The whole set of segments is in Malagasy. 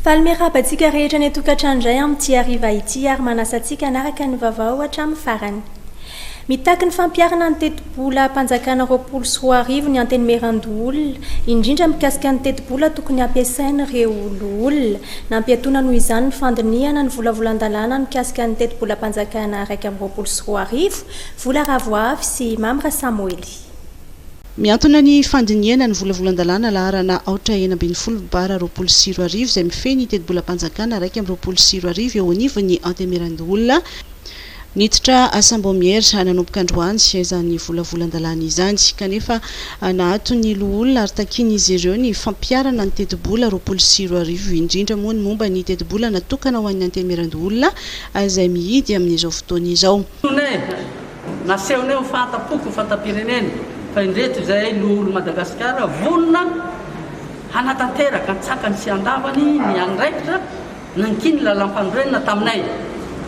Faly miarahaba antsika rehetra any an-tokantrano indray amin'ity hariva ity ary manasa antsika hanaraka ny vaovao hatramin'ny farany. Mitaky ny fampiharana ny tetibolam-panjakana roapolo sy roa arivo ny Antenimierandoholona, indrindra mikasika ny tetibola tokony hampiasain'ireo loholona. Nampiatoana noho izany ny fandinihana ny volavolan-dalàna mikasika ny tetibolam-panjakana iraika amby roapolo sy roa arivo, Vola Ravoavy sy Mamy Rasamoely. Miantona ny fandinihana ny volavolan-dalàna laharana aotra enina ambin'ny folo bara roapolo sy roa arivo izay mifehy ny tetibolam-panjakana iraika amby roapolo sy roa arivo eo anivon'ny Antenimierandoholona, Niditra asam-boamiera nanomboka androany izany volavolan-dalàna izany, kanefa naato ny loholona ary takian'izy ireo ny fampiharana ny tetibola roapolo sy roa arivo, indrindra moa ny momba ny tetibola natokana ho an'ny Antemierandoholona izay mihidy amin'izao fotoana izao. Tone, Nasehonay ho fahatampoko fantam-pirenena fa indreto izay loholon'i Madagasikara vonona hanatanteraka an-tsakany sy an-davany ny andraikitra, Nankin ny lalam-panorenana taminay.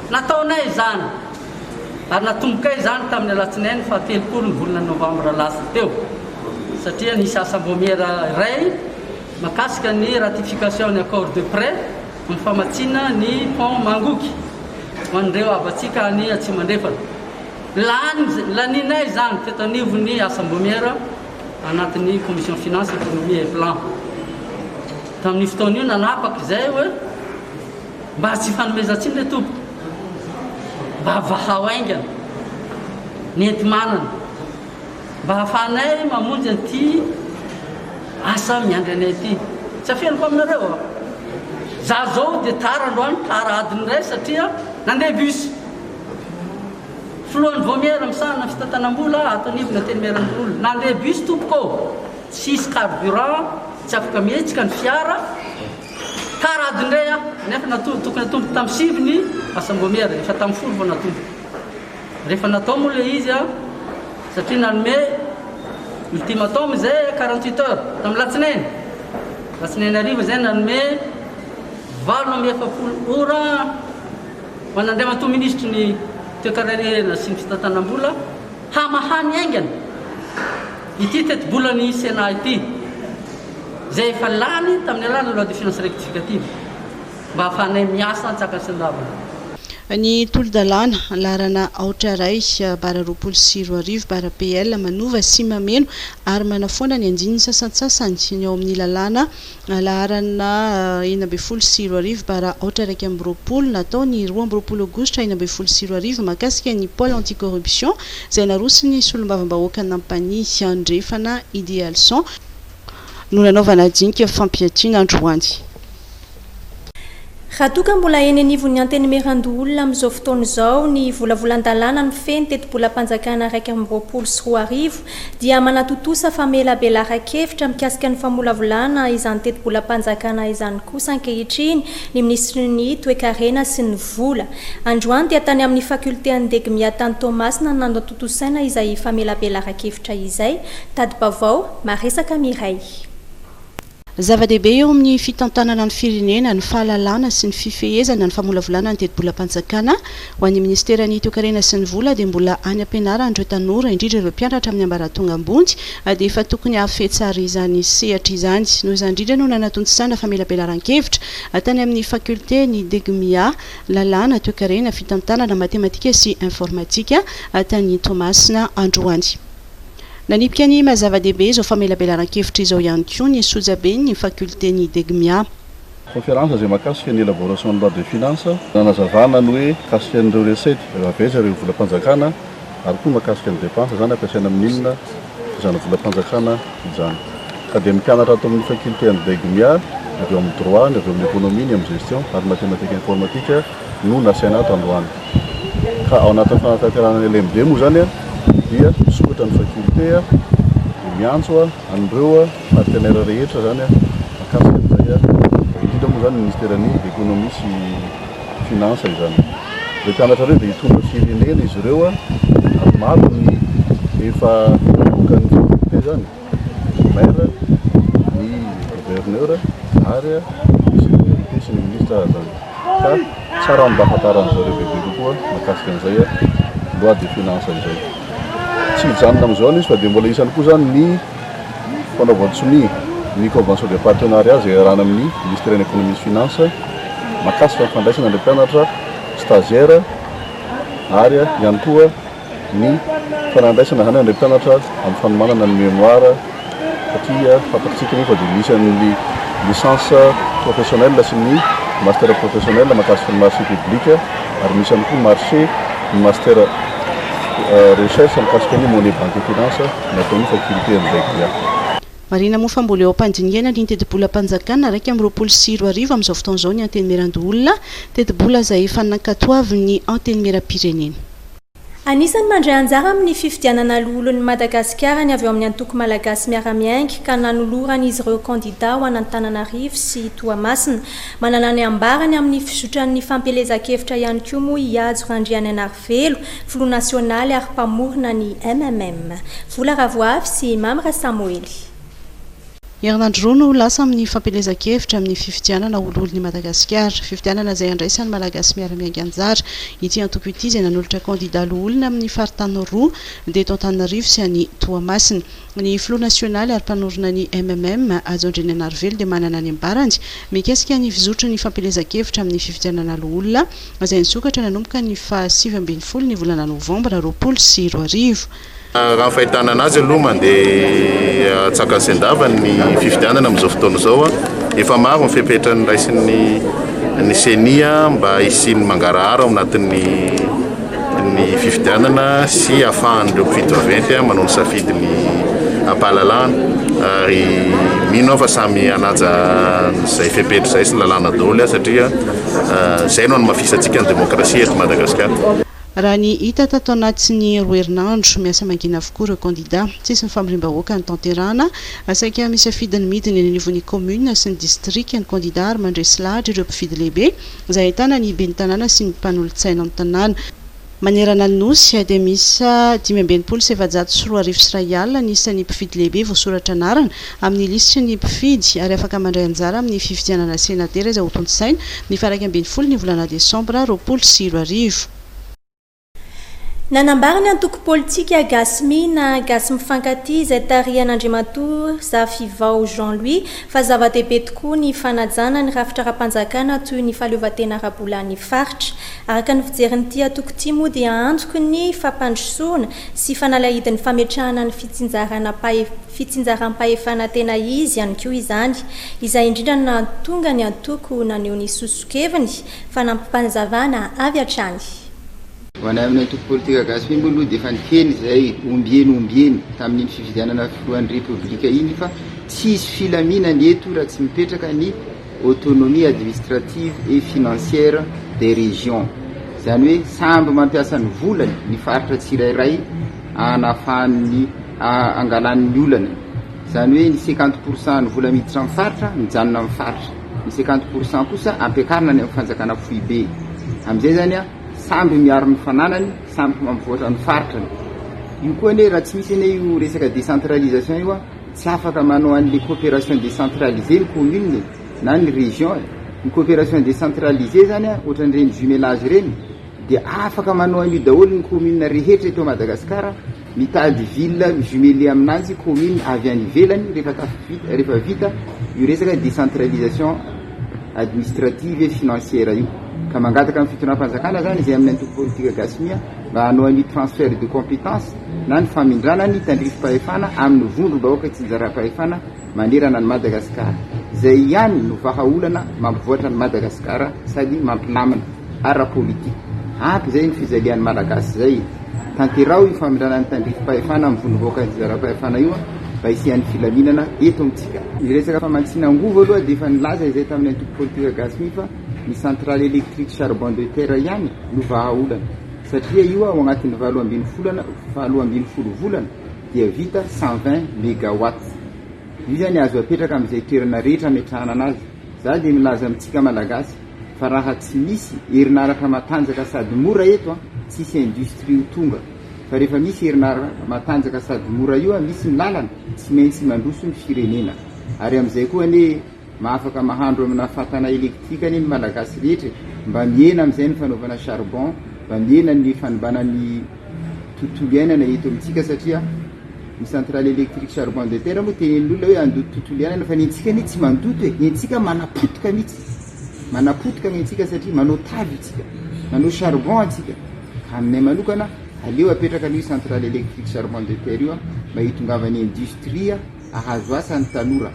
Nataonay izany ary natombokay izany tamin'ny alatsinainy faha telopolo ny volana novambra lasa teo satria nisy asambômiera iray makasika ny ratification ny accord de près amin'ny famatsiana ny pont Mangoky ho an'ireo havantsika any Atsimo Andrefana. Lany, lanianay izany teto anivon'ny asambômiera. anatin'ny Commission Finances, Economie et Plan. Tamin'io fotoana io nanapaka izay hoe mba tsy ifanomezan-tsiny ry tompoko, mba vahao haingana ny enti-manana, mba hahafahanay mamonjy an'ity asa miandry anay ity. Tsy afeniko aminareo aho. Izaho izao dia tara androany, tara adiny iray satria nandeha bus. Filohan'ny Vaomiera misahana ny fitantanam-bola ato anivon'ny Antenimierandoholona, Nandeha bus tompoko ô! Tsy hisy carburant, tsy afaka mihetsika ny fiara, tarady indray aho, nefa natory tokony hatomboka tamin'ny sivy ny asam-boamiera, efa tamin'ny folo vao natomboka. Rehefa natao moa ilay izy, satria nanome ultimatum izay quarante huit heures, tamin'ny latsinainy, latsinainy hariva izay nanome valo amby efapolo ora, Manandriamatoa Minisitry ny Toekarena sy ny Fitantanam-bola, hamaha ny haingana ity tetibolan'ny Sénat ity, izay efa lany tamin'ny alalan'ny Loi de Finances Rectificative, mba hahafahanay miasa an-tsakansendavina. Ny Tolodalàna, laharana aotra iray, bara roapolo sy roa arivo, bara PL, manova sy mameno ary manafoana ny andiany sasantsasany ny ao amin'ny lalàna Laharana enina ambin'ny folo sy roa arivo bara aotra iraika amby roapolo natao ny roa amby roapolo aogositra enina ambin'ny folo sy roa arivo mahakasika ny Pôle anti-corruption izay naroson'ny solombavambahoaka Nampany Andrefana Idéalson no nanaovana dinika fampiatiana androany. Raha toa ka mbola eny anivon'ny Antenimierandoholona amin'izao fotoana izao ny volavolan-dalàna mifehy ny tetibolam-panjakana iraika amby roapolo sy roa arivo dia manatontosa famelabelaran-kevitra mikasika ny famolavolana izany tetibolam-panjakana izany kosa ankehitriny ny Minisitry ny Toekarena sy ny Vola. Androany dia tany amin'ny Faculté an'i Degmia tany Toamasina no nanatontosaina izay famelabelaran-kevitra izay. Tadi-baovao, Maresaka Mireille. Zava-dehibe eo amin'ny fitantanana ny firenena ny fahalalana sy ny fifehezana ny famolavolana ny tetibolam-panjakana. Ho an'ny Minisiteran'ny Toekarena sy ny Vola dia mbola any am-pianarana ireo tanora, indrindra ireo mpianatra amin'ny ambaratonga ambony, dia efa tokony hahafehy tsara izany sehatra izany. Noho izany indrindra no nanatontisana famelabelaran-kevitra tany amin'ny Faculté ny Degmia, Lalàna, Toekarena, Fitantanana, Matematika sy Informatika, tany Toamasina androany. Nanipika ny maha zava-dehibe izao famelabelaran-kevitra izao ihany koa ny sojaben'ny fakiolten'i Degmia. Conférence izay mahakasika ny élaboration de loi de finances, nanazavana ny hoe mikasika an'ireo recettes, ireo aveces, ireo volam-panjakana ary koa mahakasika ny dépenses izany ampiasaina amin'inona izany volam-panjakana izany. Ka dia mpianatra ato amin'ny fakiolten'i Degmia, ny avy ao amin'ny droit, ny avy ao amin'ny économie, ny amin'ny gestion ary ny mathématique informatique, no nasaina ato androany. Ka ao anatin'ny fanatanterahana ny LMD moa izany dia misokatra ny faculté dia miantso an'ireo partenaires rehetra izany mikasika an'izay, indrindra moa izany ny Ministeran'ny Economie sy Finances izany. Ireo mpianatra ireo dia hitondra firenena izy ireo ary maro ny efa nanomboka ny faculté izany. ny maire, ny gouverneur ary ny sous-préfet sy ny ministre ary zany. Fa tsara ny mba hafantaran'ny zareo bebe kokoa mahakasika an'izay loi de finance izay. Tsy hijanona amin'izao ny izy fa dia mbola isany koa zany ny fanaovan-tsonia ny convention de partenariat izay iarahana amin'ny ministère ny économie sy finance mahakasika ny fandraisana ilay mpianatra stagiaire ary ihany koa ny fanandraisana izany an'ireo mpianatra amin'ny fanomanana ny mémoire satria fantatsika moa fa dia misy an'ny licence professionnelle sy ny master professionnelle mahakasika ny marché public ary misy ihany koa marché ny master recherche mikasika ny monnaie banque et finance nataon'ny faculté amin'izay dia Marihina moa fa mbola eo am-pandinihana ny tetibolam-panjakana iraika amby roapolo sy roa arivo amin'izao fotoana izao ny Antenimierandoholona, tetibola izay efa nankatoavin'ny Antenimieram-pirenena. Anisan'ny mandray anjara amin'ny fifidianana Loholon'i Madagasikara ny avy ao amin'ny Antoko Malagasy Miara-Miainga ka nanolorany izy ireo kandidà ho an'Antananarivo sy Toamasina. Manana ny ambarany amin'ny fizotran'ny fampielezan-kevitra ihany koa moa i Hajo Randriananarivelo, filoha nasionaly ary mpamorona ny MMM. Vola Ravoavy sy Mamy Rasamoely. Herinandro roa no ho lasa amin'ny fampielezan-kevitra amin'ny fifidianana ho loholon'i Madagasikara. Fifidianana izay handraisan'ny Malagasy miara-miainga anjara. Ity antoko ity izay nanolotra kandidà loholona amin'ny faritany roa dia eto Antananarivo sy any Toamasina. Ny filoha nasionaly ary mpanorina ny MMM, Hajo Andriananarivelo dia manana ny ambarany mikasika ny fizotry ny fampielezan-kevitra amin'ny fifidianana loholona izay nisokatra nanomboka ny faha sivy ambin'ny folo ny volana novambra roapolo sy roa arivo. Raha ny fahitana an'azy aloha mandeha tsaka sy an-dava ny fifidianana amin'izao fotoana izao. Efa maro ny fepetra noraisin'ny ny ceni mba hisian'ny mangarahara ao anatin'ny ny fifidianana sy hahafahan'ireo mpifidy vaventy manao ny safidy ny am-pahalalahana ary mino aho fa samy hanaja izay fepetra izay sy ny lalàna daholo satria izay no hanamafisantsika ny demokrasia eto Madagasikara. Raha ny hita tato anatin'ny roa herinandro, miasa mangina avokoa ireo kandidà. Tsisy ny famoriam-bahoaka notanterahana. Saika misafidy ny midina eny anivon'ny kaominina sy ny distrika ny kandidà ary mandresy lahatra ireo mpifidy lehibe, izay ahitana ny ben'ny tanàna sy ny mpanolotsaina ny tanàna. Manerana ny Nosy dia miisa dimy amby enimpolo sy efajato sy roa arivo sy iray alina ny isan'ny mpifidy lehibe voasoratra anarana. amin'ny lisitry ny mpifidy ary afaka mandray anjara amin'ny fifidianana senatera izay hotontosaina ny faha iraika ambin'ny folo ny volana desambra roapolo sy roa arivo. Nanambara ny antoko politika Gasmi na Gasy Mifankatia izay tarihan'Andriamatoa Zafivao Jean Louis fa zava-dehibe tokoa ny fanajana ny rafitra ara-panjakana toy ny fahaleovantena ara-bolan'ny faritra. Araka ny fijerin'ity antoko ity moa dia antoky ny fampandrosoana sy fanalahidin'ny fametrahana ny fitsinjarana Fitsinjaram-pahefana tena izy ihany koa izany. Izay indrindra no nahatonga ny antoko naneho ny soso-keviny, fanampim-panazavana avy hatrany. Ho anay amin'ny antoko politika Gasy Femme aloha dia efa niteny izahay ombieny ombieny tamin'iny fifidianana filohan'ny Repoblika iny fa tsy hisy filaminana eto raha tsy mipetraka ny autonomie administrative et financière des régions. Izany hoe samby mampiasa ny volany ny faritra tsirairay. hanafahany ny hangalany ny olana izany hoe ny cinquante pour cent ny vola miditra amin'ny faritra mijanona amin'ny faritra ny cinquante pour cent kosa ampiakarina any amin'ny fanjakana foibe amin'izay zany a samby miaro ny fananany samby mampivoatra ny faritrany io koa anie raha tsy misy anie io resaka décentralisation io a tsy afaka manao an'le coopération décentralisée ny commune e. na ny région e. ny coopération décentralisée zany a ohatran'ireny jumelage ireny dia afaka manao an'io daholo ny commune rehetra eto Madagascar, mitady ville mi-jumeler aminanjy commune avy any ivelany rehefa vita io resaka décentralisation administrative et financière io, ka mangataka amin'ny fitondram-panjakana zany izay amin'ny antoko politika gasy mia mba hanao an'io transfert de compétence na ny famindrana ny tandrifim-pahefana amin'ny vondrom-bahoaka tsinjaram-pahefana manerana an'i Madagasikara. Izay ihany no vahaolana mampivoatra an'i Madagasikara sady mampilamina ara-politika. Ampy izay ny fijalian'ny Malagasy izay. Tanteraho io famindranan'ny tandrifim-pahefana amin'ny vondrom-bahoaka nizara-pahefana io mba hisian'ny filaminana eto amintsika. Ny resaka famatsiana angovo aloha dia efa nilaza izay tamin'ny antoko politika gasy mi fa ny centrale électrique charbon de terre ihany no vahaolana satria io ao anatin'ny valo ambin'ny volana valo ambin'ny folo volana dia vita cent vingt megawatts. Io zany azo apetraka amin'izay toerana rehetra ametrahana anazy. Za dia milaza amintsika Malagasy fa raha tsy misy herinaratra matanjaka sady mora eto an, tsy hisy industrie ho tonga. Fa rehefa misy herinara matanjaka sady mora io an, misy ny lalana, tsy maintsy mandroso ny firenena. Ary amin'izay koa anie. Mba afaka mahandro amina fatana electrique anie ny malagasy rehetra e! Mba mihena amin'izay ny fanaovana charbon, mba mihena ny fanimbana ny tontolo iainana eto amintsika satria ny centrale electrique charbon de terre moa tenenin'ny olona hoe handoto tontolo iainana fa ny antsika anie tsy mandoto e! Ny antsika manapotika mihitsy, manapotika ny antsika satria manao taly isika, manao charbon isika. Ka aminay manokana aleo apetraka aloha io centrale electrique charbon de terre io mba hitongavan'ny industrie. ahazo asa ny tanora.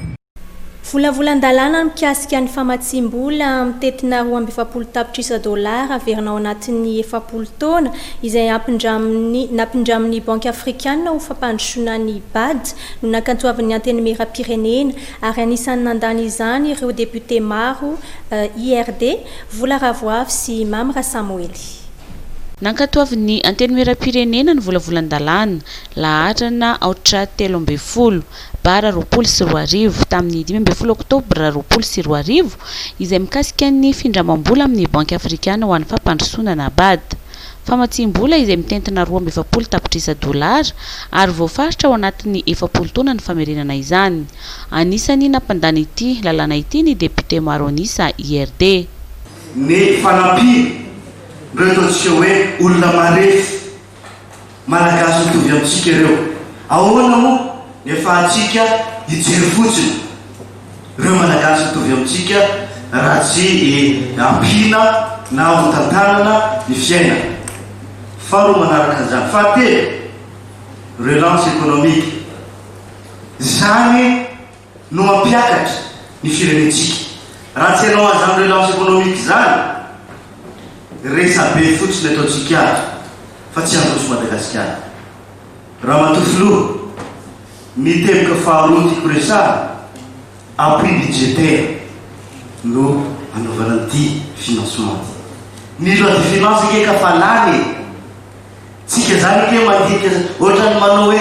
Volavolan-dalàna mikasika ny famatsiam-bola mitetina roa amby efapolo tapitrisa dolara averina ao anatin'ny efapolo taona, izay ampindramin'ny nampindramin'ny Banky Afrikana ho fampandrosoana ny Bad, no nankatoavin'ny Antenimierampirenena, ary anisan'ny nandany izany ireo depiote maro IRD, Vola Ravoavy sy Mamy Rasamoely. Nankatoavin'ny Antenimierampirenena ny volavolan-dalàna, Laharana Aotra telo ambin'ny folo Bar roapolo sy roa arivo, tamin'ny dimy ambin'ny folo Oktobra roapolo sy roa arivo, izay mikasika ny findramam-bola amin'ny Banky Afrikana ho an'ny Fampandrosoana na bad. Famatsiam-bola izay mitentina roa amby efapolo tapitrisa dolara ary voafaritra ao anatin'ny efapolo taona ny famerenana izany. Anisan'ny nampandany ity lalàna ity ny depiote maro an'isa IRD. Ny fanampiana, ndreo ataontsika hoe olona marefo. Malagasy mitovy amintsika ireo. Ahoana moa ny afahantsika hijery fotsiny ireo Malagasy mitovy amintsika raha tsy ampiana na hotantanana ny fiainana? Faharoa manaraka an'izany, fahatelo, relance économique, izany, no mampiakatra ny firenentsika. Raha tsy hanao an'izany relance économique izany, resabe fotsiny ataontsika azy fa tsy handroso Madagasikara. Ramatoa Filoha, ny teboka faharoa tiako resahana, appui budgétaire no anaovana an'ity financement ty. Ny loi de finance ange ka fa lany e! Tsika izany ange mandinika ohatran'ny manao hoe.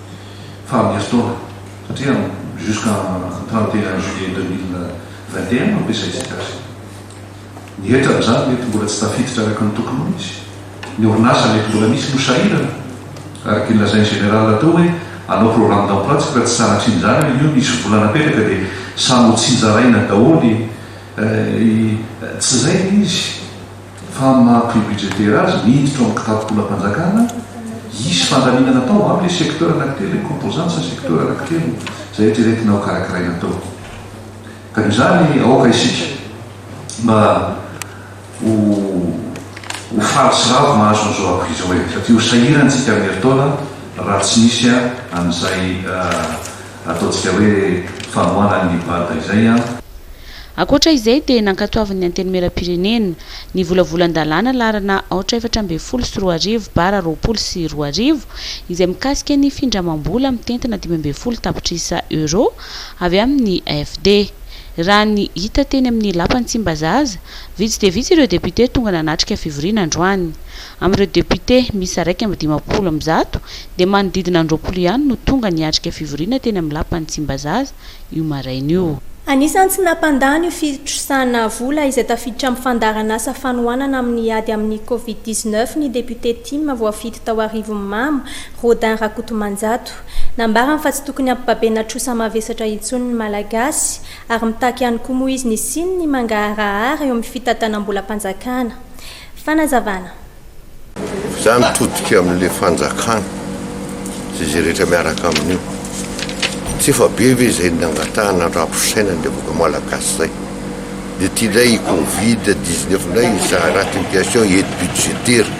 faha mers taona satria jusqu'en trente et un juillet deux mille vingt et un no ampiasaintsika azy. Ny hetra amin'izany mety mbola tsy tafiditra araka ny tokony ho izy. Ny orinasa mety mbola misy no sahirana. Araka ny lazain'ny général teo hoe hanao programme d'emploi tsika raha tsy sanatria izany ary io misy vola napetraka dia samy ho tsinjaraina daholo i tsy izay ilay izy. Fa ny maha prix budgétaire azy, miditra ao amin'ny kitapo-bolam-panjakana, hisy fandaminana atao ho amin'ilay secteur anankitelo, ilay composante sy ny secteur anankitelo izay eritreretina ho karakaraina atao. Ka noho izany, aoka isika mba ho ho faly sy ravo mahazo an'izao prix izao e! Satria ho sahirantsika amin'ny herintaona raha tsy misy an'izay Ataontsika hoe famoahana an'i Librata izay an! Ankoatra izay dia nankatoavin'ny Antenimierampirenena, ny volavolan-dalàna laharana aotra efatra ambin'ny folo sy roa arivo bara roapolo sy roa arivo, izay mikasika ny findramam-bola mitentina dimy ambin'ny folo tapitrisa Euro avy amin'ny AFD. Raha ny hita teny amin'ny lapan'i Tsimbazaza, vitsy dia vitsy ireo députés tonga nanatrika fivoriana androany. Amin'ireo députés miisa iraika amby dimampolo amby zato dia manodidina an-droapolo ihany no tonga niatrika fivoriana teny amin'ny lapan'i Tsimbazaza io maraina io. Anisan'ny tsy nampandany io fitrosana vola izay tafiditra amin'ny fandaharanasa fanohanana amin'ny ady amin'ny Covid dix-neuf ny député Tim voafidy tao Arivonimamo, Rodin Rakotomanjato. Nambarany fa tsy tokony hampibabena trosa mavesatra intsony ny Malagasy ary mitaky ihany koa moa izy ny siny ny mangaharahara eo amin'ny fitantanam-bolam-panjakana. Fanazavana. Za mitodika amin'le fanjakana sy izay rehetra miaraka amin'io. Tsy efa be ve izay nangatahana andram-pisainana ny vahoaka malagasy zay. De ty ndray i covid dix neuf ndray izaha raha ty mpiasy ao aide budgétaire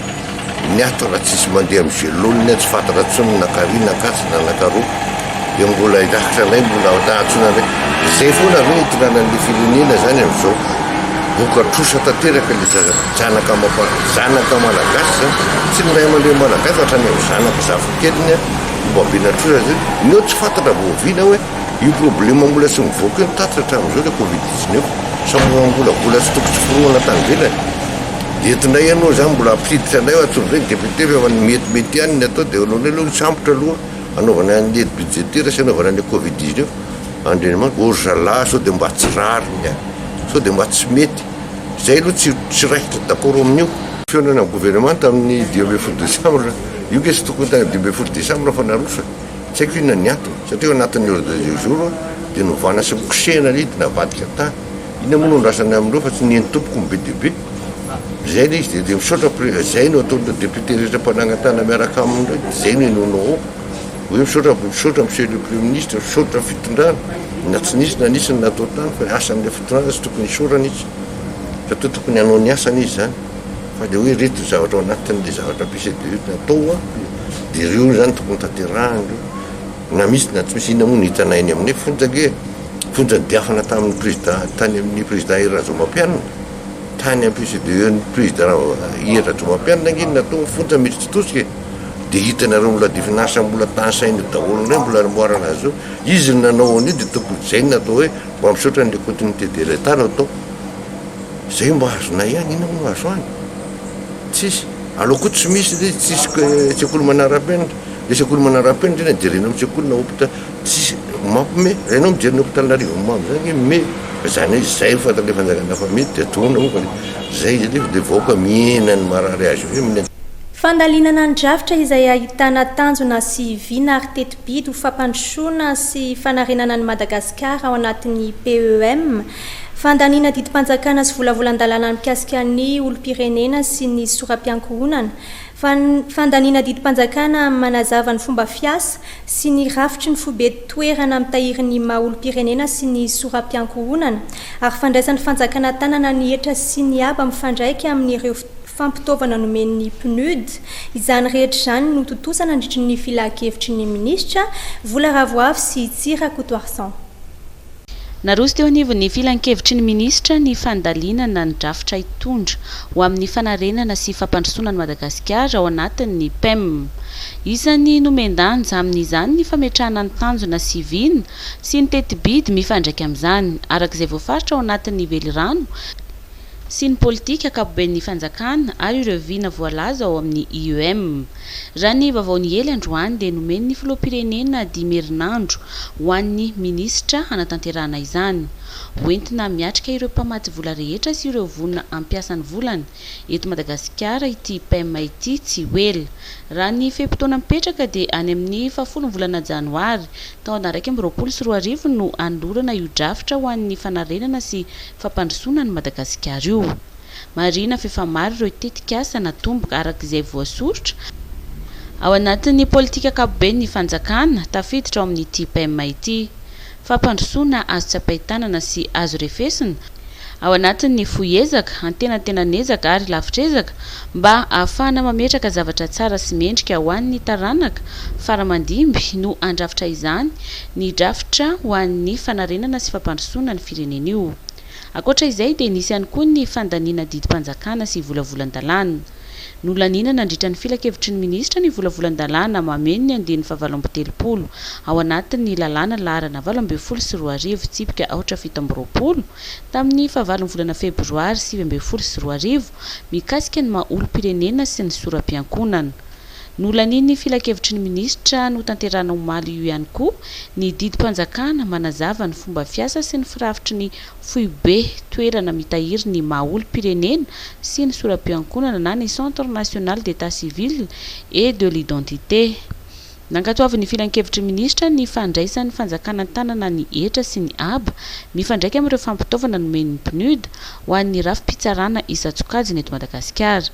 niato raha tsisy mandeha am gelone tsy fantatra tsony na kary na ankatso na anakaroa. Dia mbola hirakitra anay mbola ao tahatsona indray. Izay foana ve itokanan'ny firenena izany amin'izao? Moka trosa tanteraka ilay zaza zanaka amam-pan zanaka malagasy izany. Tsy ny ray aman-dreny malagasy hatrany amin'ny zanaka zafikeliny ary ombabena trosa izay. Neo tsy fantatra vao oviana hoe io problema mbola tsy mivoaka io ny tatitra hatramin'izao ilay covid dix neuf. Sao mbola mbola vola tsy tokony tsy foronana tany ivelany. Dia eto indray ianao izany mbola hampiditra anay hoe antsoin'ireny député fa efa ny metimety ihany ny atao dia aleonay aloha hisambotra aloha. Anaovana ny aide budgétaire sy anaovana ny covid dix neuf andrianimanitra oh zalahy sao dia mba tsy rariny a! sao dia mba tsy mety izay aloha tsy tsy raikitra d'accord amin'io. Fihaonana gouvernemanta amin'ny dimy ambin'ny folo décembre, io nge tsy tokony tany dimy ambin'ny folo décembre fa naroso e! tsy haiko inona ny antony satria eo anatin'ny ordre du jour dia novana sy nikosehina ny ady navadika tany. Inona moa no andrasana amin'ireo fa tsy ny eni-tompoko no be dia be? Izay ilay izy dia misaotra Pré, izay no ataon'ireo députés rehetra mpanangan-tàna miaraka aminy ireo, dia izay no henoinao ao hoe misaotra, misaotra Monsieur le Premier Ministre, misaotra fitondrana, na tsy nisy na nisy ny natao tany fa asan'ilay fitondrana tsy tokony hisaorana izy satria tokony hanao ny asany izy izany fa ilay hoe ireto ny zavatra ao anatin'ilay zavatra PCDE natao dia ireo izany tokony tanterahana ireo na misy na tsy misy, inona moa no hitanay eny aminay fonja ange e! Vonjadiafana tamin'ny prezida tany amin'ny prezida Hery Rajaomapianina, tany amin'ny PCDE-n'ny prezida Hery Rajaomapianina ange no natao ny fonja mety tsy tosika e! Dia hitanareo mbola divin'asa mbola tany saina daholo indray mbola amoarana azy io, izy no nanao an'io dia tokony hojaina atao hoe mba misaotra an'ilay continuité de l'Etat no atao, izay mba azonay ihany, inona moa no azo any? Tsisy, aleo koa tsy misy ilay izy, tsisy sekoly manarapenitra, ilay sekoly manarapenitra anie jerena ao amin'ny sekoly na hopita-. Tsisy mampme raha enao mijery ny hopitaly an'arivo mamo zany hoe me zany hoe izay ny fantatra le fanjakana hafa me de atona moa fa le zay izy nefa le vahoaka mihena ny marary azy eo hoe Fandalinana ny drafitra izay ahitana tanjona sy vina ary teti-bidy ho fampandrosoana sy fanarenana an'i Madagasikara ao anatin'ny PEM, fandaniana didim-panjakana sy volavolan-dalàna mikasika ny olom-pirenena sy ny soram-piankohonana, fandaniana didim-panjakana manazava ny fomba fiasa sy ny rafitry ny foibe toerana mitahiry ny maha olom-pirenena sy ny soram-piankohonana, ary fandraisan'ny fanjakana tanana ny hetra sy ny haba mifandraika amin'ireo fampitaovana nomen'ny Pnud. Izany rehetra izany no tontosa nandritry ny filankevitry ny minisitra, Vola Ravoavy sy Tsy Rakotoarison. Naroso teo anivon'ny Filankevitry ny Minisitra ny fandalinana ny drafitra hitondra ho amin'ny fanarenana sy fampandrosoana an'i Madagasikara ao anatin'ny Pem. Isan'ny nomen-danja amin'izany ny fametrahana ny tanjona sy vina sy ny teti-bidy mifandraika amin'izany, araka izay voafaritra ao anatin'ny velirano, sy ny politika ankapoben'ny fanjakana ary ireo vina voalaza ao amin'ny IEM. Raha ny vaovao niely androany dia nomen'ny filoham-pirenena dimy herinandro ho an'ny minisitra hanatanterahana izany. Ho entina miatrika ireo mpamatsy vola rehetra sy ireo voina hampiasa ny volany eto Madagasikara ity PEM ity tsy ho ela. Raha ny fe-potoana mipetraka dia any amin'ny fahafolon'ny volana janoary taona iraika amby roapolo sy roa arivo no hanolorana io drafitra ho an'ny fanarenana sy fampandrosoana an'i Madagasikara io. Marihina fa efa maro ireo tetikasa natomboka araka izay voasoritra ao anatin'ny politika ankapoben'ny fanjakana tafiditra ao amin'ity PEM ity. Fampandrosoana azo tsapain-tanana sy azo refesina ao anatin'ny fohy ezaka, antenantenan'ezaka ary lavitr'ezaka mba ahafahana mametraka zavatra tsara sy mendrika ho an'ny taranaka faramandimby no handrafitra izany ny drafitra ho an'ny fanarenana sy fampandrosoana ny firenena io. Ankoatra izay dia nisy ihany koa ny fandaniana didim-panjakana sy volavolan-dalàna. Nolaniana nandritra ny filankevitry ny minisitra ny volavolan-dalàna mameno ny andiany fahavalo amby telopolo ao anatin'ny lalàna laharana valo ambin'ny folo sy roa arivo tsipika aotra fito amby roapolo tamin'ny fahavalon'ny volana febroary sivy ambin'ny folo sy roa arivo mikasika ny maha olom-pirenena sy ny sora-piankonana Nolanian'ny Filankevitry ny Minisitra notanterahana omaly io ihany koa ny didim-panjakana manazava ny fomba fiasa sy ny firafitry ny Foibe toerana mitahiry ny maha olom-pirenena sy ny sora-piankonana na ny Centre National d'Etat Civil et de l'Identité. Nankatoavin'ny Filankevitry ny Minisitra ny fandraisan'ny fanjakana an-tanana ny hetra sy ny haba mifandraika amin'ireo fampitaovana nomen'ny PNUD ho an'ny rafi-pitsarana isan-tsokajiny eto Madagasikara,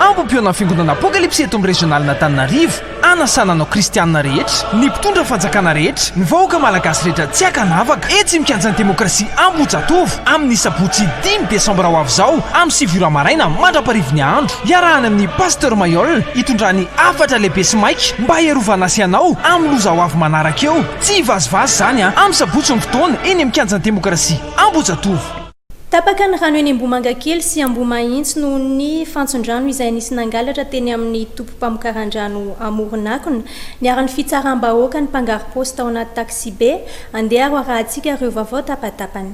Ambom-peonan'ny Fiangonana Apokalypsy eto amin'ny Rezionalin'Antananarivo hanasana anao Kristianina rehetra, ny mpitondra fanjakana rehetra, ny vahoaka Malagasy rehetra tsy ankanavaka etsy Mikianjan'ny Demokrasia Ambohijatovo amin'ny Sabotsy dimy Desambra ho avy izao amin'ny sivy ora maraina mandraparivin'ny andro. Iarahana amin'i Pasteur Mailhol hitondrà ny hafatra lehibe sy maika mba hiarovana sy anao amin'ny loza ho avy manaraka eo. Tsy hivazivazy izany amin'ny Sabotsy ny fotoana eny Mikianjan'ny Demokrasia Ambohijatovo. Tapaka ny rano eny Ambohimangakely sy Ambohimahitsy noho ny fantson-drano izay nisy nangalatra teny amin'ny tobim-pamokaran-drano amoron'akona. Niharan'ny fitsaram-bahoaka ny mpangarom-paosy tao anaty taksibe. Andeha ary ho arahantsika ireo vaovao tapa-tapany.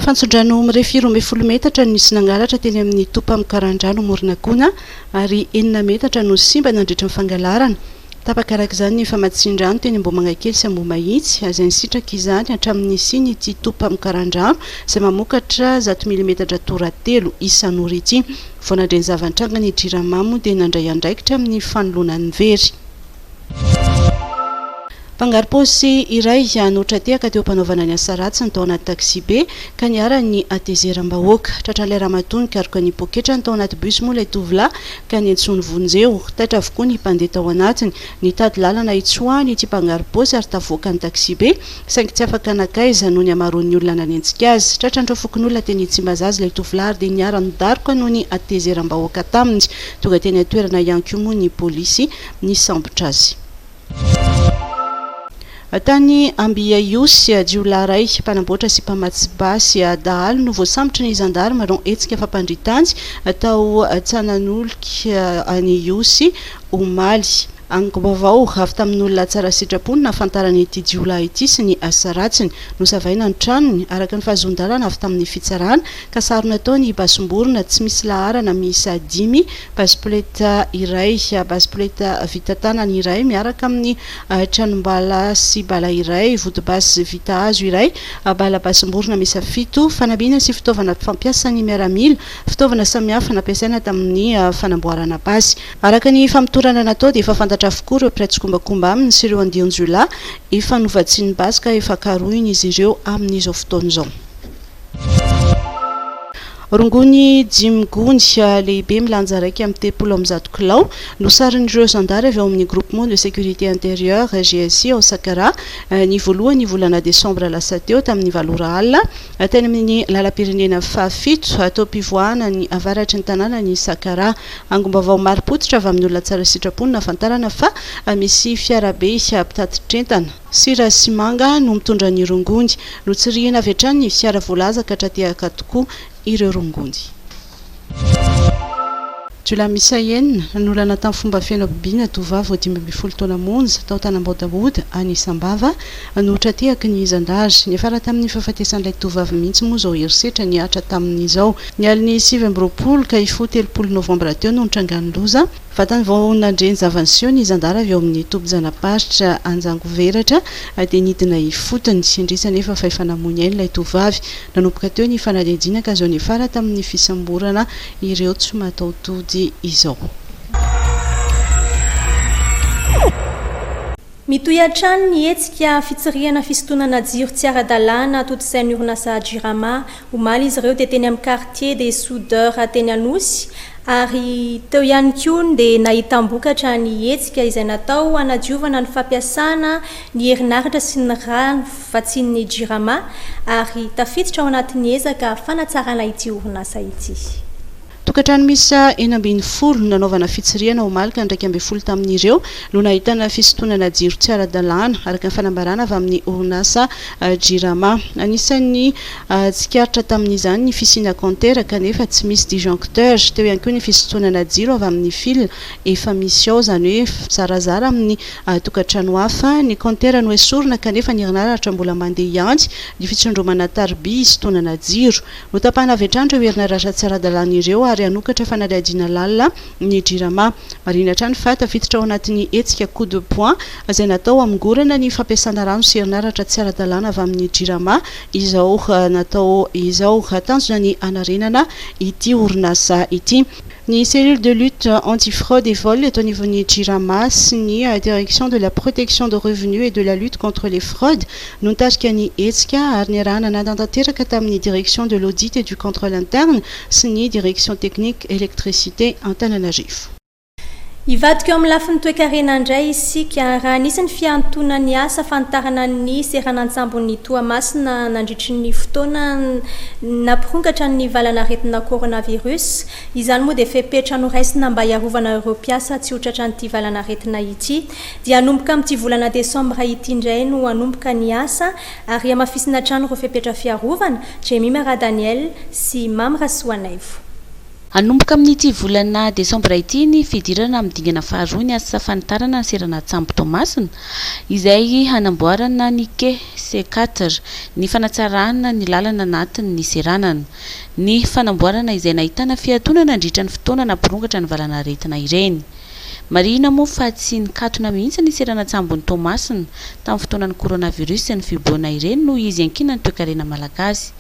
Fantson-drano mirefy roa ambin'ny folo metatra no nisy nangalatra teny amin'ny tobim-pamokaran-drano amoron'akona ary enina metatra no simba nandritra ny fangalarana. Tapaka araka izany ny famatsian-drano teny Ambohimangakely sy Ambohimahitsy, izay nisitraka izany hatramin'ny nisian'ity tobim-pamokaran-drano izay mamokatra zato milimetatra tora telo isan'ora ity. Vao nandre ny zava-nitranga ny Jirama moa dia nandray andraikitra amin'ny fanoloana ny very. Mpangaro-paosy iray no tra-tehaka teo am-panaovana ny asa ratsiny tao anaty taxi-be ka niharan'ny hatezeram-bahoaka. Tratran'ilay ramatoa nikaroka ny poketrany tao anaty bus moa ilay tovolahy ka niantsoany vonjeo. Taitra avokoa ny mpandeha tao anatiny. Nitady lalana hitsoahany ity mpangaro-paosy ary tavoakany taksibe, saingy tsy afaka nankaiza noho ny hamaroan'ny olona nanenjika azy. Tratran'ireo fokonolona teny Tsimbazaza ilay tovolahy ary dia niara-nidaroka noho ny hatezeram-bahoaka taminy. Tonga teny an-toerana ihany koa moa ny polisy nisambotra azy. Tany Ambihiahiosy, jiolahy iray mpanamboatra sy mpamatsy basy dahalo no voasambotry ny zandary manao hetsika fampandrian-tany tao Tsananoloky any Ihosy, omaly. Angom-baovao avy tamin'olona tsara sitrapo no nahafantarana ity jiolahy ity sy ny asa ratsiny. Nosavaina ny tranony, araka ny fahazoan-dalana avy tamin'ny fitsarana, ka sarona tao ny basim-borona tsy misy laharana miisa dimy Base poleta iray, base poleta vita tanana iray miaraka amin'ny tranom-bala sy bala iray, vodi-basy vita hazo iray, bala basim-borona miisa fito, fanamiana sy fitaovana fampiasan'ny miaramila, fitaovana samihafa nampiasaina tamin'ny fanamboarana basy. Araka ny famotorana natao dia efa fantatra avokoa ireo mpiray tsikombakomba aminy sy ireo andian-jiolahy efa novatsian'ny basy ka efa karohina izy ireo amin'izao fotoana izao. Rongony dimy gony lehibe milanja iraika amby telopolo amby zato kilao no sarin'ireo zandary avy ao amin'ny Groupement de Sécurité Intérieure, GSI, ao Sakaraha, ny voalohan'ny volana desambra lasa teo, tamin'ny valo ora alina, teny amin'ny lalam-pirenena fahafito, atao am-pivoahana ny avaratry ny tanànan'i Sakaraha. Angom-baovao marim-pototra avy amin'olona tsara sitrapo no nahafantarana fa misy fiarabe mpitatitra entana. Sira sy manga no mitondra ny rongony. Notsirihina avy hatrany ny fiara voalaza ka tra-tehaka tokoa ireo rongony. Jiolahy miisa enina nanolana tamin'ny fomba feno habibiana tovovavy vao dimy ambin'ny folo taona monja tao Tanambao-Daoda, any Sambava, no tra-tehaky ny zandary. Niafara tamin'ny fahafatesan'ilay tovovavy mihitsy moa izao herisetra nihatra taminy izao. Ny alin'ny sivy amby roapolo ka hifoha telopolo novambra teo no nitrangan'ny loza. Vatany vao nandre ny zava-niseho ny zandary avy ao amin'ny tobin-janaparitra Anjangoveratra dia nidina ifotony. Indrisy anefa fa efa namoy ny ainy ilay tovovavy. Nanomboka teo ny fanadihadiana ka zao niafara tamin'ny fisamborana ireo tsy mataho-tody izao. Mitohy hatrany ny hetsika fitsirihana fisintonana jiro tsy ara-dalàna atontosain'ny orinasa Jirama. Omaly izy ireo dia teny amin'ny Quartier des soudeurs teny Anosy ary teo ihany koa ny dia nahitam-bokatra ny hetsika izay natao hanadiovana ny fampiasana ny herinaratra sy ny rano vatsian'ny Jirama ary tafiditra ao anatin'ny ezaka fanatsarana ity orinasa ity. Tokantrano miisa enina ambin'ny folo nanaovana fitsirihana omaly ka ny iraika ambin'ny folo tamin'ireo no nahitana fisintonana jiro tsy ara-dalàna, araka ny fanambarana avy amin'ny orinasa Jirama. Anisan'ny tsikaritra tamin'izany ny fisiana kaontera kanefa tsy misy disjoncteur. Teo ihany koa ny fisintonana jiro avy amin'ny fil efa misy ao, izany hoe mizarazara amin'ny tokantrano hafa. Ny kaontera noesorina kanefa ny herinaratra mbola mandeha ihany. Ny fitsondromana tariby hisintonana jiro. Hotapahana avy hatrany ireo herinaratra tsy ara-dalàna ireo ary hanokatra fanadihadiana lalina ny Jirama. Marihina hatrany fa tafiditra ao anatin'ny hetsika Coup de poing izay natao hamongorana ny fampiasana rano sy herinaratra tsy ara-dalàna avy amin'ny Jirama izao natao izao. Tanjona ny hanarenana ity orinasa ity. Ny Cellule de lutte anti-fraude et vol eto anivon'ny Jirama sy ny Direction de la protection de revenu et de la lutte contre les fraudes no nitarika ny hetsika ary niarahana nanatanteraka tamin'ny Direction de l'audit et du contrôle interne sy ny Direction technique électricité Antananarivo. Hivadika eo amin'ny lafiny toekarena indray isika, raha nisy ny fihantonan'ny asa fanitarana ny seranan-tsambon'i Toamasina nandritry ny fotoana nampirongatra ny valan'aretina coronavirus. Izany moa dia fepetra noraisina mba hiarovana ireo mpiasa tsy ho tratran'ity valan'aretina ity. Dia hanomboka amin'ity volana desambra ity indray no hanomboka ny asa ary hamafisina hatrany ireo fepetra fiarovana, Jemima Radaniel sy Mamy Rasoanaivo. Hanomboka amin'ity volana desambra ity ny fidirana amin'ny dingana faharoa ny asa fanitarana ny seranan-tsambo Toamasina, izay hanamboarana ny quai C4, ny fanatsarana ny lalana anatin'ny niseranana, ny fanamboarana izay nahitana fiatoana nandritra ny fotoana nampirongatra ny valanaretina ireny. Marihina moa fa tsy nikatona mihitsy ny seranan-tsambon'i Toamasina tamin'ny fotoanan'ny coronavirus sy ny fibobohana ireny noho izy iankinan'ny toekarena malagasy.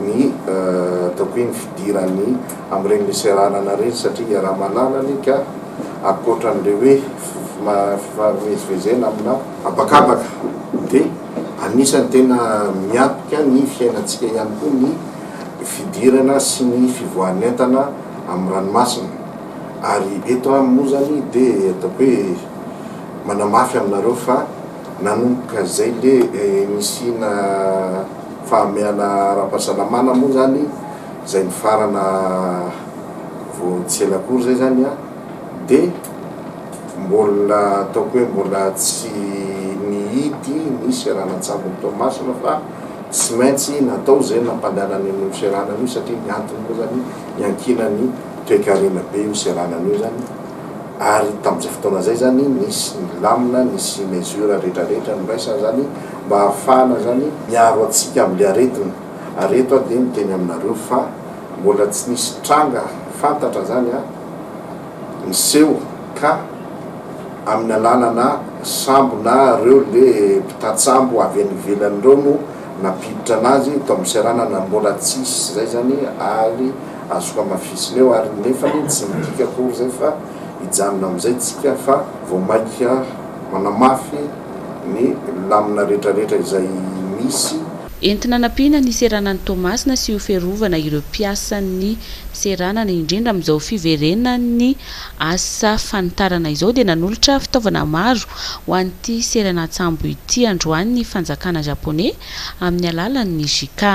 ny ataoko hoe ny fidiran'ny amin'ireny miseranana ireny satria iaraha-malala anie ka ankoatran'ilay hoe fifamezivezena aminà habakabaka dia anisan'ny tena miampika ny fiainantsika ihany koa ny fidirana sy ny fivoahan'entana amin'ny ranomasina ary eto aho moa izany dia ataoko hoe manamafy aminareo fa Nanomboka izay ilay nisiana fahamehana ara-pahasalamana moa izany, izay nifarana vao tsy ela akory izay izany an, dia mbola ataoko hoe mbola tsy nihidy ny seranan-tsambon'i Toamasina fa tsy maintsy natao izay nampandehanana an'io seranana io satria ny antony moa izany niankinan'ny toekarena be io seranana io izany. ary tamin'izay fotoana izay izany nisy ny lamina, nisy ny mesures rehetra rehetra noraisana izany mba hahafahana izany miaro antsika amin'ilay aretina ary eto aho dia miteny aminareo fa mbola tsy nisy tranga fantatra izany niseho ka amin'ny alalana sambo na ireo le mpitatsambo avy any ivelany ireo no nampiditra anazy eto amin'ny seranana mbola tsisy izay izany ary Azoko hamafisina eo ary nefany tsy midika akory izay fa hijanona amin'izay tsika fa vao maika manamafy ny lamina retraretra izay misy. Entina anampiana ny seranan'i Toamasina sy ho fiarovana ireo mpiasan'ny seranana indrindra amin'izao fiverenan'ny asa fanitarana izao dia nanolotra fitaovana maro ho an'ity seranan-tsambo ity androany ny fanjakana Japoney amin'ny alalan'ny JICA.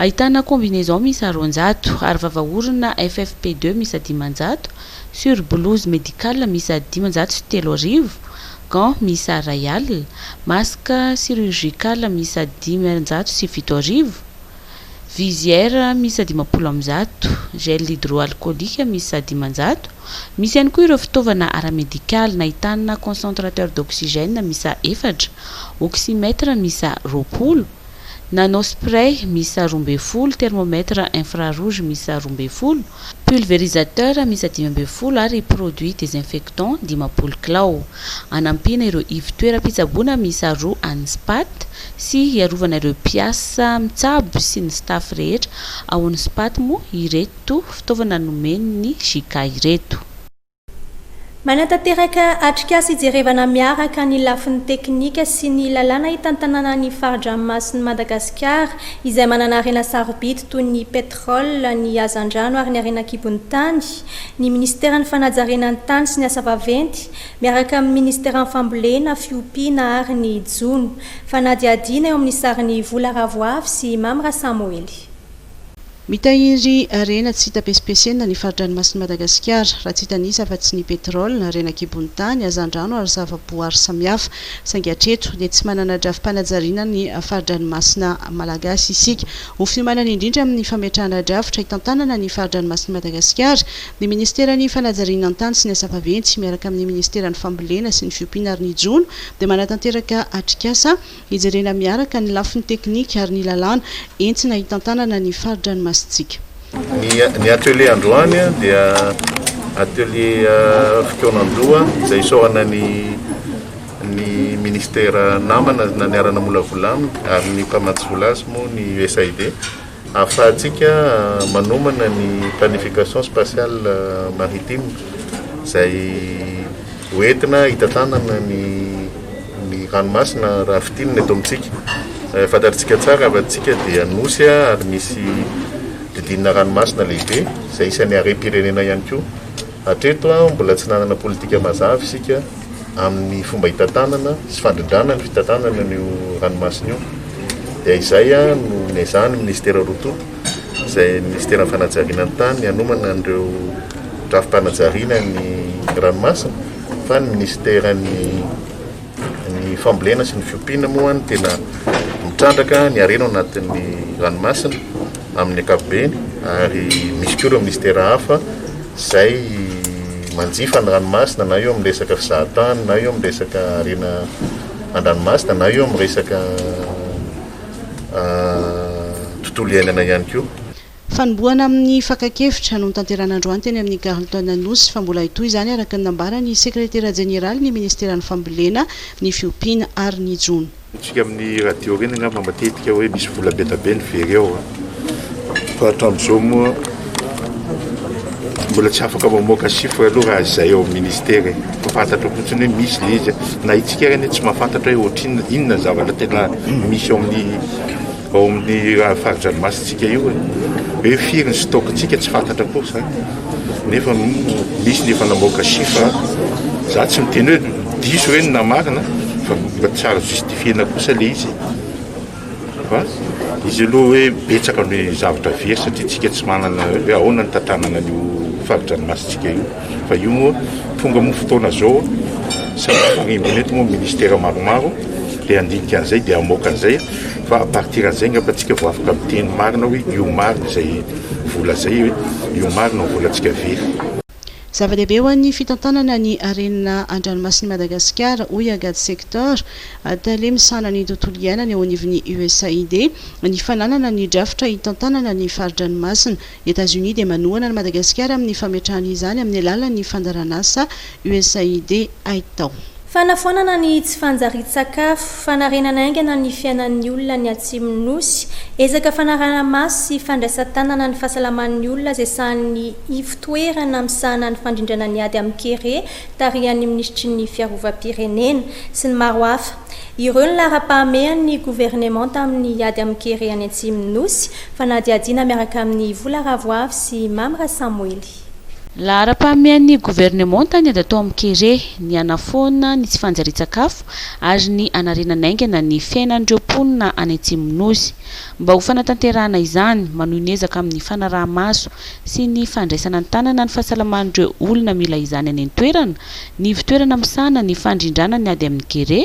Ahitana combinaison miisa roanjato, arovava orona FFP2 miisa dimanjato, sur-blouse médicale miisa dimanjato sy telo arivo, gants miisa iray alina, masque chirurgical miisa dimanjato sy fito arivo, visière miisa dimampolo amby zato, gel hydroalcoolique miisa dimanjato, misy ihany koa ireo fitaovana ara-medikaly nahitana concentrateur d'oxygène miisa efatra, oxymètre miisa roapolo, nanospray miisa roa ambin'ny folo, thermomètre infrarouge miisa roa ambin'ny folo, pulvérisateur miisa dimy ambin'ny folo ary produit désinfectant dimampolo kilao. Hanampiana ireo ivon-toeram-pitsaboana miisa roa an'ny Spat sy hiarovana ireo mpiasa mitsabo sy ny staff rehetra ao amin'ny Spat moa ireto fitaovana nomen'ny JK ireto. Manatanteraka atrikasa ijerevana miaraka ny lafiny teknika sy ny lalàna hitantanana ny fari-dranomasin'i Madagasikara izay manana harena sarobidy toy ny petrole, ny hazandrano ary ny harena an-kibon'ny tany ny minisiteran'ny fanajariana ny tany sy ny asa vaventy miaraka amin'ny minisiteran'ny fambolena, fiompiana ary ny jono. Fanadihadiana eo amin'ny sarin'i Vola Ravoavy sy Mamy Rasamoely. Mitahiry harena tsy hita pesipesenina ny fari-dranomasin'i Madagasikara, raha tsy hita an'isa afa-tsy ny petrole, harena an-kibon'ny tany, hazandrano ary zavaboary samihafa. Saingy hatreto dia tsy manana drafi-panajariana ny fari-dranomasina malagasy isika. Ho fiomanana indrindra amin'ny fametrahana drafitra hitantanana ny fari-dranomasin'i Madagasikara, ny Ministeran'ny Fanajariana ny Tany sy ny Asa Vaventy miaraka amin'ny Ministeran'ny Fambolena sy ny Fiompiana ary ny Jono dia manatanteraka atrikasa Hijerena miaraka ny lafiny teknika ary ny lalàna entina hitantanana ny fari-dranomasintsika. Ny atelier androany dia atelier fikaonan-doha izay isaorana ny ny ministera namana niara-namolavola aminy ary ny mpamatsy vola azy moa ny USAID. Ahafahantsika manomana ny planification spatiale maritime izay ho entina hitantanana ny ny ranomasina raha fintinina eto amintsika. Fantatritsika tsara fa antsika dia nosy ary misy didinina ranomasina lehibe izay isan'ny harem-pirenena ihany koa. Hatreto, mbola tsy nanana politika mazava isika amin'ny fomba hitantanana sy fandrindrana ny fitantanana an'io ranomasina io. Dia izay no niezahan'ny Minisitera roa tonta, izay Minisiteran'ny fanajariana ny tany, hanomana an'ireo drafi-panajariana ny ranomasina, fa ny Minisiteran'ny. Ny fambolena sy ny fiompiana moa no tena mitrandraka ny harena ao anatin'ny ranomasina amin'ny ankapobeny ary misy koa ireo ministera hafa izay manjifa ny ranomasina na eo amin'ny resaka fizahan-tany na eo amin'ny resaka harena an-dranomasina na eo amin'ny resaka ah, tontolo iainana ihany koa. Fanombohana amin'ny fakan-kevitra no notanterahina androany teny amin'ny Carlton Anosy fa mbola hitohy izany araka ny nambaran'ny sekretera jeneralin'ny minisiteran'ny fambolena, ny fiompiana ary ny jono. Hitantsika amin'ny radio ireny angamba matetika hoe misy vola be dia be ny very ao an! Fa hatramin'izao moa mbola tsy afaka mamoaka chiffre aloha raha izay ao amin'ny minisitera e! Fa fantatro fotsiny hoe misy ilay izy an! Na itsika ary anie tsy mahafantatra hoe ohatrinona, inona ny zavatra tena misy ao amin'ny. Ao amin'ny fari-dranomasintsika io e, hoe firy ny stock-ntsika tsy fantatra akory izany, nefa misy ny efa namoaka chiffre, za tsy miteny hoe diso ireny na marina fa mba tsy azo justifier-na kosa le izy e. Fa izy aloha hoe betsaka ny zavatra very satria tsika tsy manana hoe ahoana ny tantanana an'io fari-dranomasintsika io. Fa io moa tonga moa fotoana zao satria harimbona eto moa ministera maromaro dia handinika an'izay dia hamoaka an'izay fa à partir an'izay angamba tsika vao afaka miteny marina hoe io marina izay vola zay hoe io marina ny volantsika very. Zava-dehibe ho an'ny fitantanana ny harena an-dranomasin'i Madagasikara, hoy Agathe Sector, tale misahana ny tontolo iainana eo anivon'ny USAID, ny fananana ny drafitra hitantanana ny fari-dranomasina Etazonia dia manohana an'i Madagasikara amin'ny fametrahany izany amin'ny alalan'ny fandaranasa USAID. Aitao. Fanafoanana ny tsy fanjarian-tsakafo, fanarenana haingana ny fiainan'ny olona ny Atsimon'ny Nosy, ezaka fanaraha-maso sy fandraisan-tanana ny fahasalaman'ny olona izay sahan'ny ivotoerana misahana ny fandrindrana ny ady amin'ny kere tarihan'ny minisitry ny Fiarovam-pirenena, sy ny maro hafa. Ireo ny laharam-pahamehan'ny governemanta amin'ny ady amin'ny kere any Atsimon'ny Nosy, fanadihadiana miaraka amin'i Vola Ravoavy sy Mamy Rasamoely. Laharam-pahamehan'ny governemanta ny ady atao amin'ny kere, ny hanafoana ny tsy fanjarian-tsakafo ary ny hanarenana haingana ny fiainan'ireo mponina any Atsimon'ny Nosy. Mba ho fanatanterahana izany, manohy ny ezaka amin'ny fanaraha-maso sy ny fandraisana an-tanana ny fahasalaman'ireo olona mila izany any an-toerana ny ivon-toerana misahana ny fandrindrana ny ady amin'ny kere,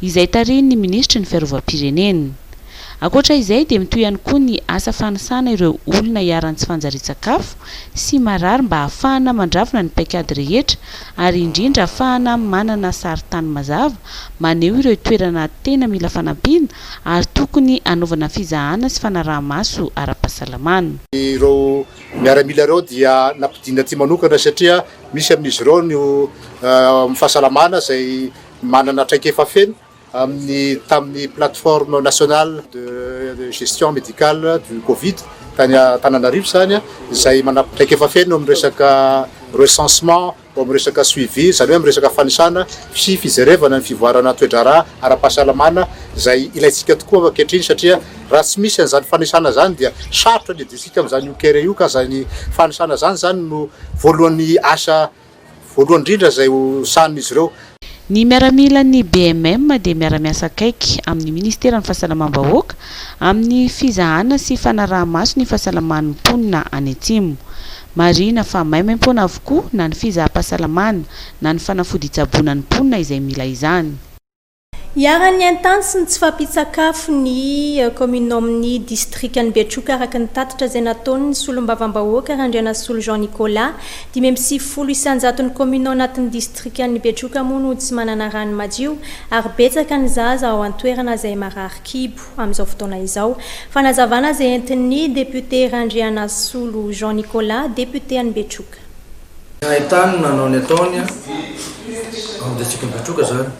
izay tarihin'ny minisitry ny Fiarovam-pirenena. Ankoatra izay dia mitohy ihany koa ny asa fanisana ireo olona iharan'ny tsy fanjarian-tsakafo sy marary mba hahafahana mandravona ny paikady rehetra ary indrindra hahafahana manana sarintany mazava maneho ireo toerana tena mila fanampiana ary tokony hanaovana fizahana sy fanaraha-maso ara-pahasalamana. Ireo miaramila ireo dia nampidinina aty manokana satria Misy amin'izy ireo ny ao amin'ny fahasalamana izay manana traikefa feno amin'ny tamin'ny Plateforme Nationale de Gestion Médicale du Covid tany Antananarivo izany, izay manana traikefa feno amin'ny resaka recensement, ao amin'ny resaka suivi, izany hoe amin'ny resaka fanisana sy fijerevana ny fivoarana toe-draharaha ara-pahasalamana izay ilaintsika tokoa ankehitriny satria. Raha tsy misy an'izany fanisana izany dia sarotra ny hidisika amin'izany io kere io ka izay ny fanisana izany izany no voalohan'ny asa voalohany indrindra izay ho sahanin'izy ireo. Ny miaramilan'ny BMM dia miara-miasa akaiky amin'ny Ministeran'ny Fahasalamam-bahoaka amin'ny fizahana sy fanaraha-maso ny fahasalaman'ny mponina any Atsimo. Marihina fa maimaim-poana avokoa na ny fizaham-pahasalamana na ny fanafody hitsaboana ny mponina izay mila izany. Iharan'ny haintany sy ny tsy fahampian-tsakafo ny kaominina ao amin'ny distrikan'i Betroka araka ny tatitra izay nataon'ny solombavambahoaka Randrianasolo Jean Nicolas. Dimy amby sivifolo isanjaton'ny kaominina ao anatin'ny distrikan'i Betroka moa no tsy manana rano madio ary betsaka ny zaza ao an-toerana izay marary kibo amin'izao fotoana izao. Fanazavana izay entin'ny depiote Randrianasolo Jean Nicolas, depiote an'i Betroka. Ny haintany no nanao ny ataony ao amin'ny distrikan'i Betroka izany.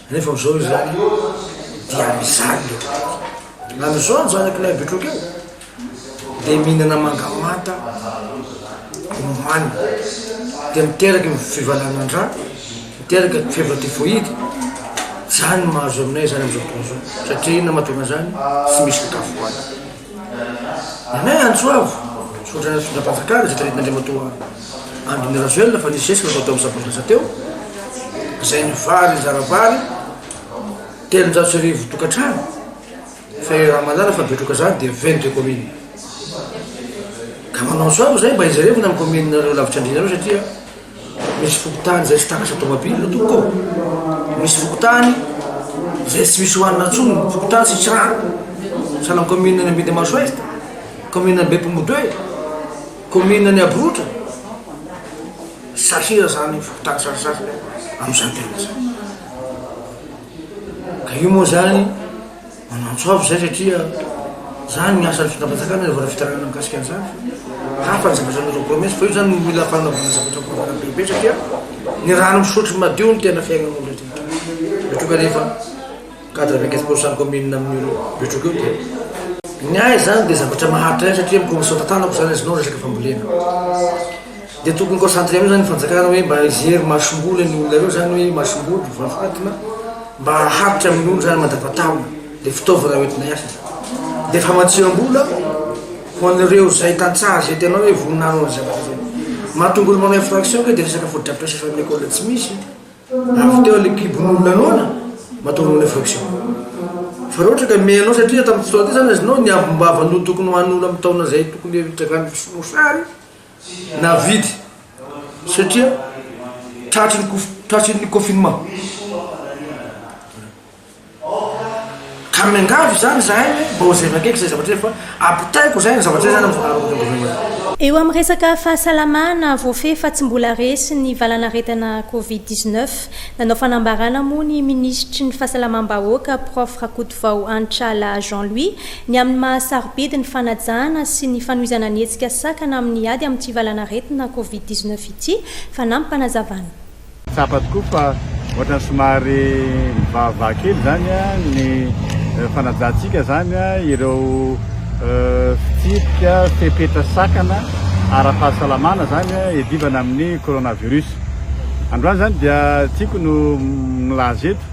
Nefa amin'izao izany dia mijaly ilay tontolo. Amin'izao ny zanak'ilay betroka io dia mihinana manga manta omaniny, dia miteraka ny fivalanan-dra, miteraka ny fievra typhoïde. Izany no mahazo aminay izany amin'izao fotoana izao, satria inona no mahatonga an'izany? Tsy misy sakafo hohanina. Anay Antsoavo, misaotra ny fitondram-panjakana izay taritin'Andriamatoa Andry Nirajoelina fa nisy zesika natao teo amin'ny sabotsy lasa teo izay ny vary nizara vary telonjato sy arivo tokantrano fa i Ramalala fa betroka izany dia vingt deux communes ka manao Antsoavo izay mba ijerevina amin'ny communes-nareo lavitr'Andrianareo satria Misy fokontany izay tsy takatra tomabila tompoko ô! Misy fokontany izay tsy misy ohanina intsony ny fokontany tsy misy rano sahala ny commune an'i Ambindimaso Est, commune Ambepo Modoe, commune an'i Abrotry, sahira izany fokontany sasasasany amin'izany toerana izany. Ka io moa izany. Manantsoavo izay satria izany ny asan'ny fitondram-panjakana ny anaovana fitarainana mikasika an'izany. Hafa ny zavatra nataon'i Promesse fa io izany no mila fanaovana zavatra goavana be be satria ny rano misotro madio no tena fiainan'ny olona eto Betroka. Betroka nefa quatre vingt quinze pourcent commune amin'ny olona Betroka io dia Ny ahy izany dia zavatra maharitra ahy satria mikomy sao-tantanako izany azonao resaka fambolena. Dia tokony concentrer amin'io zany ny fanjakana hoe mba hijery masomboly an'io olona reo zany hoe masomboly vao fantina mba haharitra amin'olo zany mandavatao le fitaovana hoentina hiasa de famatsiambola ho an'ireo zay tantsaha zay tena hoe voninahiny ny zavatra zay mahatonga olo manao infraction koa de resaka fotodrafitrasa efa amin'ny école tsy misy avy teo le kibon'olona noana mahatonga manao infraction fa raha ohatra ka me anao satria tamin'ny fotoana ty zany azinao ny ambim-bava no tokony ho an'olo amin'ny taona zay tokony hitrangany mosary navidy satria tratry ny kof- tratry ny confinement ka miangavy izany izahay hoe mba hojerena akaiky izay zavatra izay fa ampitaiko izay ny zavatra izay izany amin'ny amin'ny gouvernement Eo amin'ny resaka fahasalamana, voafehy fa tsy mbola resy ny valanaretina Covid dix neuf. Nanao fanambarana moa ny minisitry ny Fahasalamam-bahoaka, Prof Rakotovao Hanitra Laha Jean Louis, Ny amin'ny maha sarobidy ny fanajana sy ny fanohizana ny hetsika sakana amin'ny ady amin'ity valanaretina Covid dix neuf ity, fanampy fanazavana. Tsapa tokoa fa ohatrany somary mivahavaha kely izany ny fanajantsika izany ireo fitsipika, fepetra sakana ara-pahasalamana izany iadivana amin'ny coronavirus. Androany izany dia tiako no milaza eto.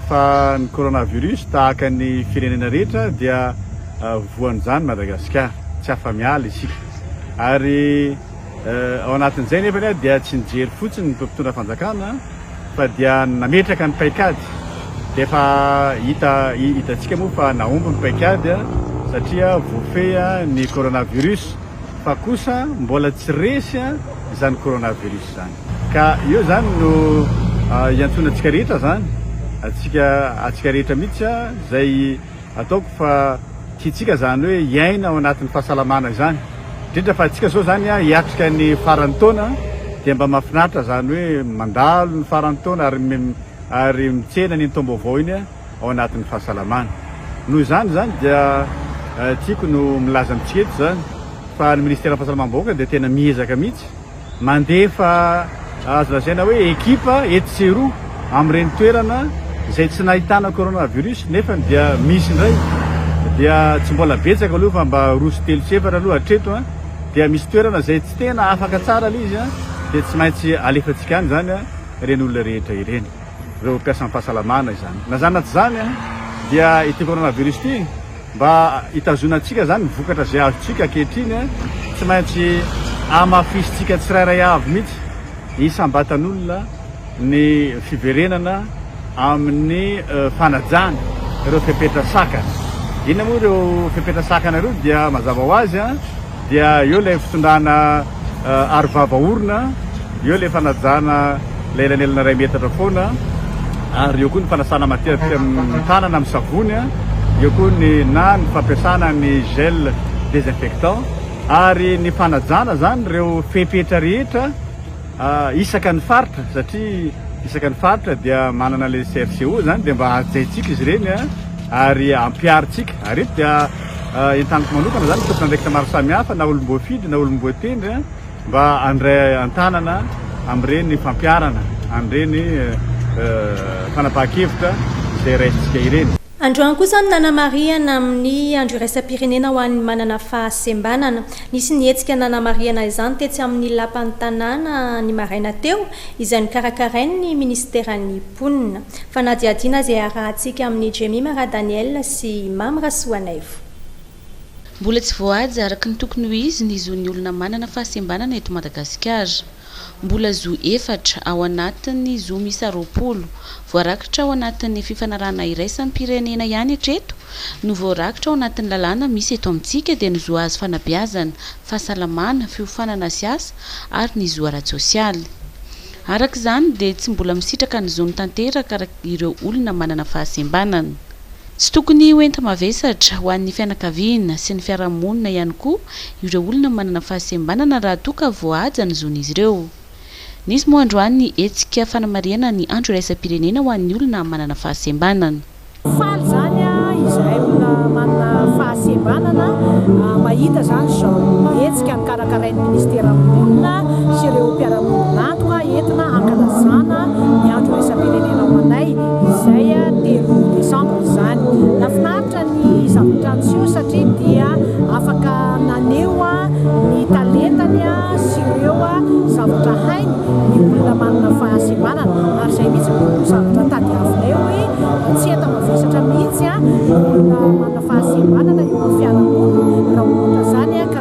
fa ny coronavirus tahaka ny firenena rehetra dia voan'izany Madagasikara, tsy afa-miala isika ary ao anatin'izay nefa dia tsy nijery fotsiny ny mpitondra fanjakana fa dia nametraka ny paikady dia efa hita hitantsika moa fa nahomby ny paikady satria voafehy ny coronavirus fa kosa mbola tsy resy izany coronavirus izany. Ka eo izany no iantsoana antsika rehetra izany, antsika antsika rehetra mihitsy izay ataoko fa tiantsika izany hoe hiaina ao anatin'ny fahasalamana izany, indrindra fa antsika izao izany hiatrika ny faran'ny taona dia mba mahafinaritra izany hoe mandalo ny faran'ny taona ary ary mitsena an'iny taom-baovao iny ao anatin'ny fahasalamana. Noho izany izany dia tiako no milaza amintsika eto izany fa ny Ministeran'ny Fahasalamam-bahoaka dia tena miezaka mihitsy, Mandefa azo lazaina hoe ekipa etsy sy eroa amin'ireny toerana izay tsy nahitana coronavirus nefany dia misy indray dia tsy mbola betsaka aloha fa mba roa sy telo sy efatra aloha hatreto an dia misy toerana izay tsy tena afaka tsara ilay izy an dia tsy maintsy alefantsika any izany an ireny olona rehetra ireny ireo mpiasam-pahasalamana izany na izany na tsy izany an dia ity coronavirus ity Mba hitazonantsika izany ny vokatra izay azontsika ankehitriny, tsy maintsy hamafisintsika tsirairay avy mihitsy isam-batan'olona ny fiverenana amin'ny fanajana ireo fepetra sakana. Inona moa ireo fepetra sakana ireo? Dia mazava ho azy, Dia eo ilay fitondrana aro vava orona, eo ilay fanajana ilay elanelana iray metatra foana, ary eo koa ny fanasana matetika ny tanana amin'ny savony, eo koa ny na ny fampiasana ny gel désinfectant ary ny fanajana izany ireo fepetra rehetra. Isaka ny faritra satria isaka ny faritra dia manana ilay CFCO zany dia mba hajaintsika izy ireny ary ampiharintsika ary eto dia entaniko manokana zany tompon'andraikitra maro samihafa na olom-boafidy na olom-boatendry mba handray an-tanana amin'ireny fampiharana an'ireny fanapahan-kevitra izay raisintsika ireny. Androany kosa no nanamarihana amin'ny Andro iraisam-pirenena ho an'ny manana fahasembanana. Nisy ny hetsika nanamarihana izany tetsy amin'ny Lapan'ny tanàna ny maraina teo, izay nokarakarain'ny Minisiteran'ny mponina. Fanadihadiana izay harahantsika amin'i Jemima Radaniel sy i Mamy Rasoanaivo. Mbola tsy voahaja araka ny tokony ho izy ny zon'ny olona manana fahasembanana eto Madagasikara. Mbola zo efatra, ao anatin'ny zo miisa roapolo, voarakitra ao anatin'ny fifanarahana iraisam-pirenena ihany hatreto no voarakitra ao anatin'ny lalàna misy eto amintsika dia ny zo hahazo fanabeazana, fahasalamana, fiofanana sy asa ary ny zo ara-tsosialy. Araka izany dia tsy mbola misitraka ny zony tanteraka ireo olona manana fahasembanana. Tsy tokony ho enti-mavesatra ho an'ny fianakaviana sy ny fiarahamonina ihany koa ireo olona manana fahasembanana raha toa ka voahaja ny zon'izy ireo. Nisy moa androany ny hetsika fanamarihana ny andro iraisam-pirenena ho an'ny olona manana fahasembanana. Faly izany izahay olona manana fahasembanana mahita izany izao hetsika. karakarain'ny Minisitera Mponina sy ireo mpiara-miombon'antoka entina hankalazana ny Andro Iraisam-pirenena ho anay izay telo desambra izany. Nahafinaritra ny zavatra niseho satria dia afaka naneho ny talentany sy ireo zavatra hainy ny olona manana fahasembanana ary izay mihitsy no zavatra tadiavinay hoe tsy enta-mavesatra mihitsy ny olona manana fahasembanana eo amin'ny fiarahamonina raha ohatra izany ka